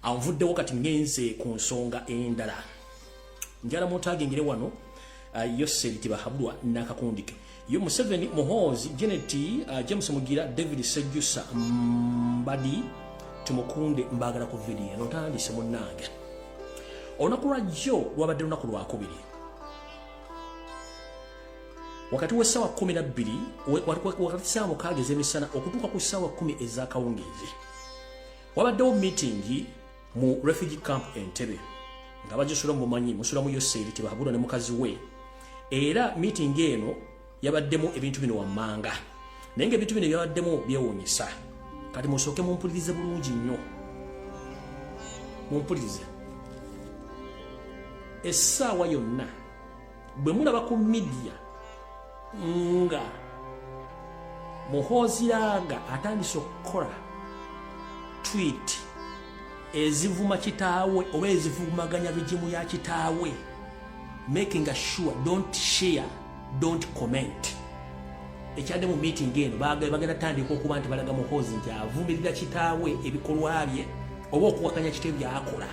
anvuddewo kati ngenze ku nsonga endala njala muntu agengere wano uh, yoseri tibahabulwa nakakundike yo museveni muhoozi genet uh, james mugira david sejusa mbadi tumukunde mbagala ku vidiyo eno tandise munange olunaku lwajjo lwabadde lunaku lwakubiri wakati w'essaawa kkumi na bbiri wakati ssaawa mukaaga ez'emisana okutuuka ku ssaawa kkumi ez'akawungeezi wabaddewo miitingi mu refugee camp entebe nga bagisula mu bumanyi musula mu yoseeri tebahabulwa ne mukazi we era miitingi eno yabaddemu ebintu bino wammanga naye nga ebintu bino byabaddemu byewuunyisa kati musooke mumpulirize bulungi nnyo mumpulirize essaawa yonna bwe mulaba ku midiya nga muhooziranga atandise okukola twit ezivuma kitaawe oba ezivumaganya bigimu ya kitaawe making a sure don't share don't comment ekyadde mu meeting eno bagenda tandika okuba nti balaga muhoozi nti avumirira kitaawe ebikolwa bye oba okuwakanya kite byakola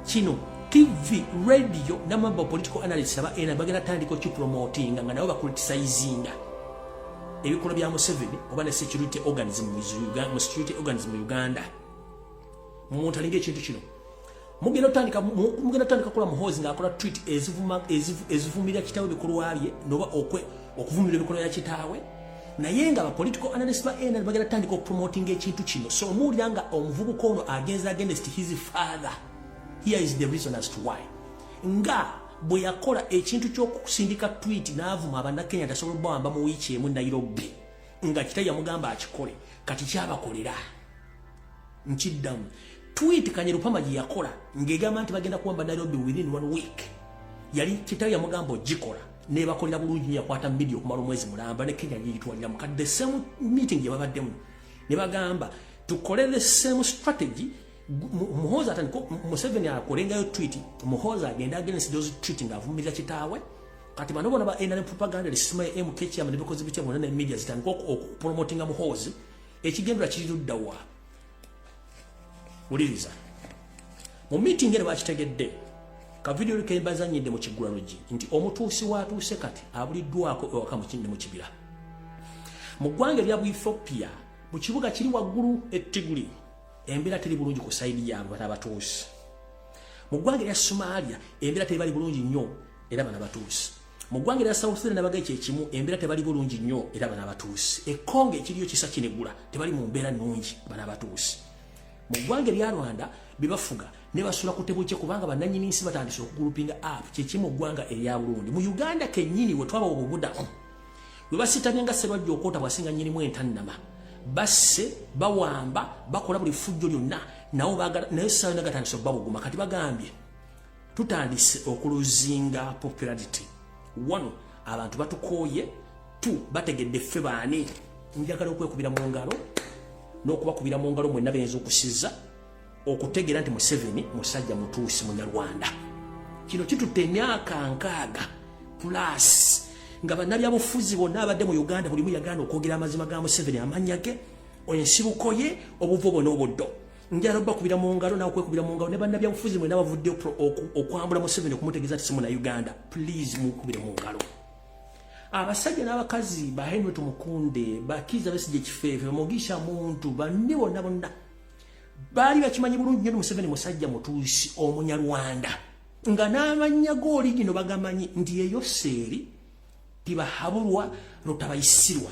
kino tv radio namamba political analyst aba ena bagenda tandika okipromotinga nga nabo bakulitisayizinga ebikolwa bya museveni oba ne security organism mu security organism mu uganda mumuntu alinga ekintu kino mugenda otandika mugenda otandika kola muhoozi ngaakola tweet ezivumira kitawe bikolwa bye noba okwe okuvumira ebikola ya kitaawe naye nga bapolitical analyst ba nr bagenda tutandika okupromotinga ekintu kino so omuwulira nga omuvubuka ono agenza against his father here is the reason as to why nga bwe yakola ekintu ky'okusindika twit n'avuma abannakenya tasobola okubawamba mu wiiki emu nairobi nga kita yamugamba akikole kati kyabakolera nkiddamu tweet kanye lupama gye yakola ng'egamba nti bagenda kuwamba nairobi within one week yali kitawe yamugamba ogikola nebakolera bulungi nyo yakwata midia okumala omwezi mulamba ne kenya yeyitwaliramu kati the same meeting gye babaddemu ne bagamba tukole the same strategy muhozi atandika museveni akolengayo tweet muhozi agenda against those tweet ng'avumirira kitaawe kati bano bona ba nrm propaganda lisima ya mkcm nebikozi bitya bona ne media zitandika okupromotinga muhozi ekigendwa kiri ludda wa wuliriza mu miitingi eno bakitegedde kavidiyo kebazanyidde mu kiggulalugi nti omutuusi watuuse kati abuliddwako ewaka mukinde mu kibira mu ggwanga erya bu ethiopia mu kibuga kiri waggulu ettiguli embeera teri bulungi ku sayidi yaabwe bana abatuusi mu ggwanga erya somalia embeera teri bali bulungi nnyo era bana abatuusi mu ggwanga erya south sudan nabagaye kyekimu embeera tebali bulungi nnyo era bana abatuusi ekongo ekiriyo kisa kinegula tebali mu mbeera nnungi bana abatuusi mu ggwanga erya rwanda bebafuga ne basula ku tebukye kubanga bannanyini nsi batandise okugulupinga app kyekimu ggwanga erya burundi mu uganda kennyini we twaba obubudamu we basitamye nga sebajja okwota bwasinga nyinimu entannama basse bawamba bakola buli fujjo lyonna nawo naye saayo nagatandise okubabuguma kati bagambye tutandise okuluzinga popularity one abantu batukooye t bategedde ffe baani njagala okwekubira mu ngalo n'okubakubira mu ngalo mwenna beyinza okusiza okutegeera nti museveni musajja mutuusi munyarwanda kino kitutte emyaka nkaaga plus nga bannabyabufuzi bonna abadde mu uganda bulimu yagaana okwogera amazima ga museveni amannya ge ensibuko ye obuvo bwona obuddo njala okubakubira mu ngalo nawe okwekubira mu ngalo ne bannabyabufuzi mwena bavudde okwambula museveni okumutegeeza ti simuna uganda please mukubire mu ngalo abasajja n'abakazi ba henry tumukunde bakiiza besigye kifeefe mugisha muntu banne bonna bonna baali bakimanyi bulungi nyo ni museveni musajja mutuusi omunyarwanda nga n'amannya g'oligino bagamanyi nti eyo seeri tibahabulwa lutabayisirwa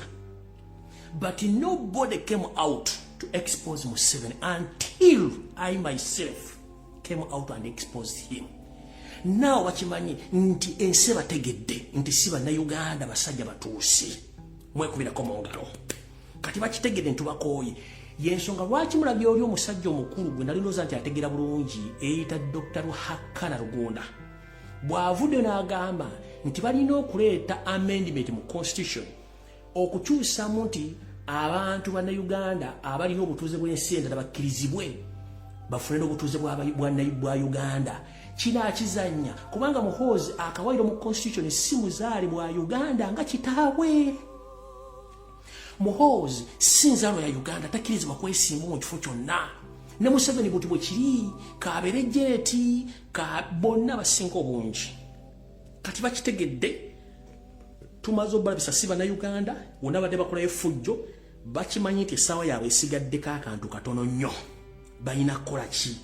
but nobody came out to expose museveni until i myself came out and exposed him naawe bakimanyi nti ensi bategedde nti si bannayuganda basajja batuusi mwekubirako mu ngalo kati bakitegedde ntubakooye yensonga lwaki mulabye oli omusajja omukulu gwe nalinoza nti ategera bulungi eyita dr ruhakana rugunda bw'avudde n'agamba nti balina okuleeta amendment mu constitution okukyusamu nti abantu bannayuganda abalina obutuuze bw'ensi endala bakkirizibwe bafune n'obutuuze bwa uganda kino akizannya kubanga muhoozi akawairo mu constitution si muzaale bwa uganda nga kitaawe muhoozi si nzaalo ya uganda takkirizibwa kwesimbu mu kifo kyonna ne museveni buti bwe kiri kabeere jeeti ka bonna abasinga obungi kati bakitegedde tumaze obalabisa si banauganda wona badde bakolayo effujjo bakimanyi nti essaawa yaabwe esigaddeko akantu katono nnyo balina kukola ki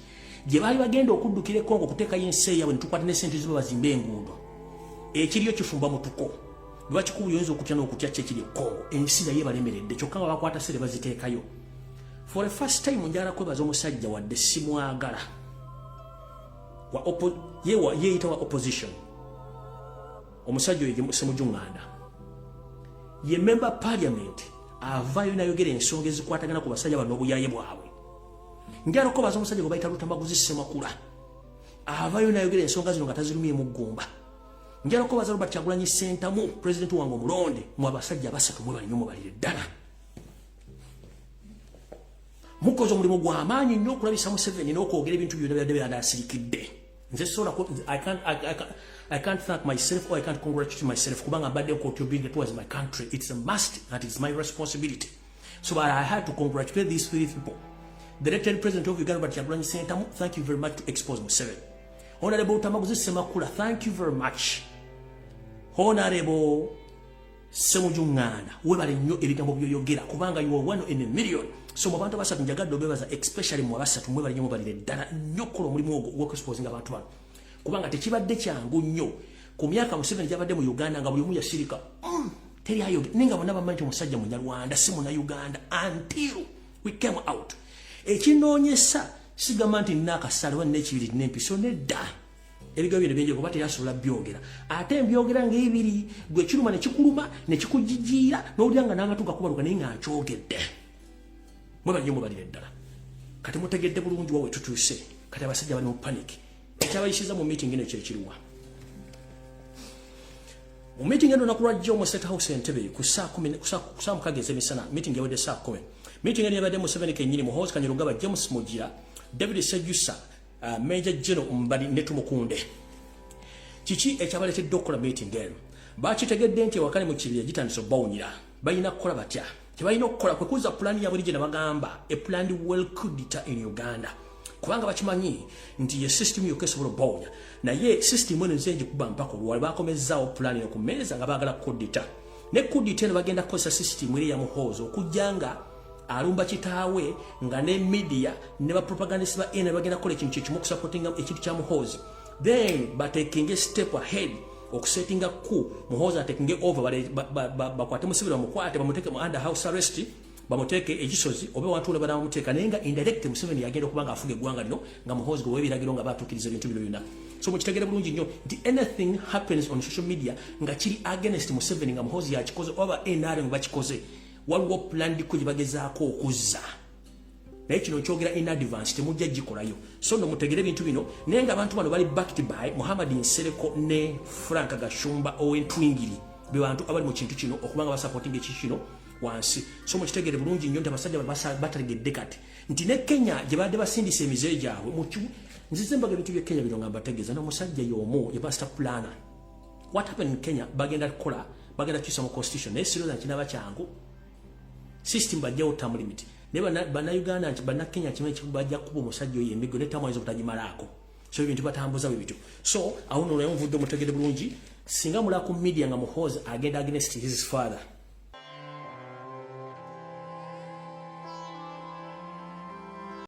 gye baali bagenda okuddukira ekongo okuteekayo ensi eyabwe netukwata nesente ziba bazimba enguudo ekiriyo kifumba mutuko lwaki kuba oyinza okutya n'okutya ki ekiri ekongo ensi naye balemeredde kyokka nga bakwata sere baziteekayo for a first time njala kwebaza omusajja wadde simwagala yeeyita wa opposition omusajja oyo semujunganda ye memba parliament avaayo nayogera ensonga ezikwatagana ku basajja bano obuyaye bwabwe njaloko baza omusajja gwe bayita lutamaguzi semakula avaayo nayogera ensonga zino nga tazirumye muggumba njaloko baza robert kyagulanyi sentamu pulezidenti wange omulonde mu abasajja basatu mwebalinyo mubalire ddala mukoze omulimu gw'amaanyi nnyo okulabisa museveni n'okwogera ebintu byona byadde byanda asirikidde nze sola I can't thank myself or I can't congratulate myself kubanga mbadde contributing towards my country it's a must and it's my responsibility so but I had to congratulate these three people the elected president of Uganda Robert Kyagulanyi Ssentamu thank you very much to expose Museveni honorable Tamaguzi Semakula thank you very much honorable Semuju Nganda, webale nnyo ebigambo byoyogera kubanga you are one in a million. So mu bantu basatu njagadde obebaza especially mu abasatu mwebale nnyo mubalire ddala nnyo kukola omulimu ogwo ogw'okuexposinga abantu bano kubanga tekibadde kyangu nnyo ku myaka Museveni gyabadde mu Uganda nga buli omu yasirika mm, teri ayoge naye nga bonna bamanyi nti omusajja munyarwanda si muna Uganda until we came out ekinoonyesa sigamba nti nina akasaale oba nina ekibiri nina empiso nedda ebiga bino bingi kuba teyasobola byogera ate mbyogera ng'ebiri gwe kiruma ne kikuluma ne kikujijiira n'owulira nga n'amatu gakubaluka naye nga nkyogedde mwe banyo mubalire ddala kati mutegedde bulungi wawe tutuuse kati abasajja bali mu panic ekyabayisiza mu meeting eno kyekiriwa mu meeting eno naku lwajjo mu state house entebe ku saa mukaga ez'emisana meeting yawedde saa kumi meeting eno yabadde museveni kennyini muhoozi kanyirugaba james mugira david sejusa uh, Major General Mbadi ne Tumukunde kiki ekyabaletedde okukola meeting eno bakitegedde nti ewakali mu kibira gitandise okubawunyira balina kukola batya kyebalina okukola kwe kuza pulaani yabuli gye nabagamba a planned well cudita in uganda kubanga bakimanyi nti ye system yokka esobola okubawunya naye system eno nze ngikuba mpaka olwali bakomezzaawo pulaani eno ku meeza nga baagala kudita ne kudita eno bagenda kukozesa system eri yamuhoozi okujja nga alumba kitaawe nga ne media ne ba propagandist ba ena bagenda kola ekintu kyekimu okusupportinga ekintu kya muhoozi then batekinge step ahead okusetinga ku muhoozi atekinge over bakwate musibira bamukwate bamuteke mu under house arrest bamuteeke ekisozi oba wantu olabala bamuteeka naye nga indirect museveni yagenda okuba nga afuga eggwanga lino nga muhoozi gwe webiragiro nga batuukiriza ebintu bino byonna so mukitegere bulungi nnyo nti anything happens on social media nga kiri against museveni nga muhoozi yakikoze oba nrm bakikoze waliwo pulandiko gye bagezaako okuzza naye kino nkyogera in advance temujja gikolayo so no mutegere ebintu bino naye nga abantu bano bali backed by muhammad nsereko ne frank gashumba owentwingiri be bantu abali mu kintu kino okuba nga basapotinga eki kino wansi so mukitegere bulungi nnyo nti abasajja batalegedde kati nti ne kenya gye badde basindisa emize gyabwe nzize mbaga ebintu bye kenya bino nga mbategeeza n'omusajja y'omu yabasita pulana what happened in Kenya bagenda kola bagenda kisa mu constitution ne siro zanti naba changu system bajja otam limit ne bana bana Uganda nti bana Kenya kimwe kibajja kubo musajjo ye migo ne tamwa izo butajimalako so ibintu batambuza bibitu so awuno lwa yomvudo mutegede bulungi singa mula ku media nga muhoza agenda against his father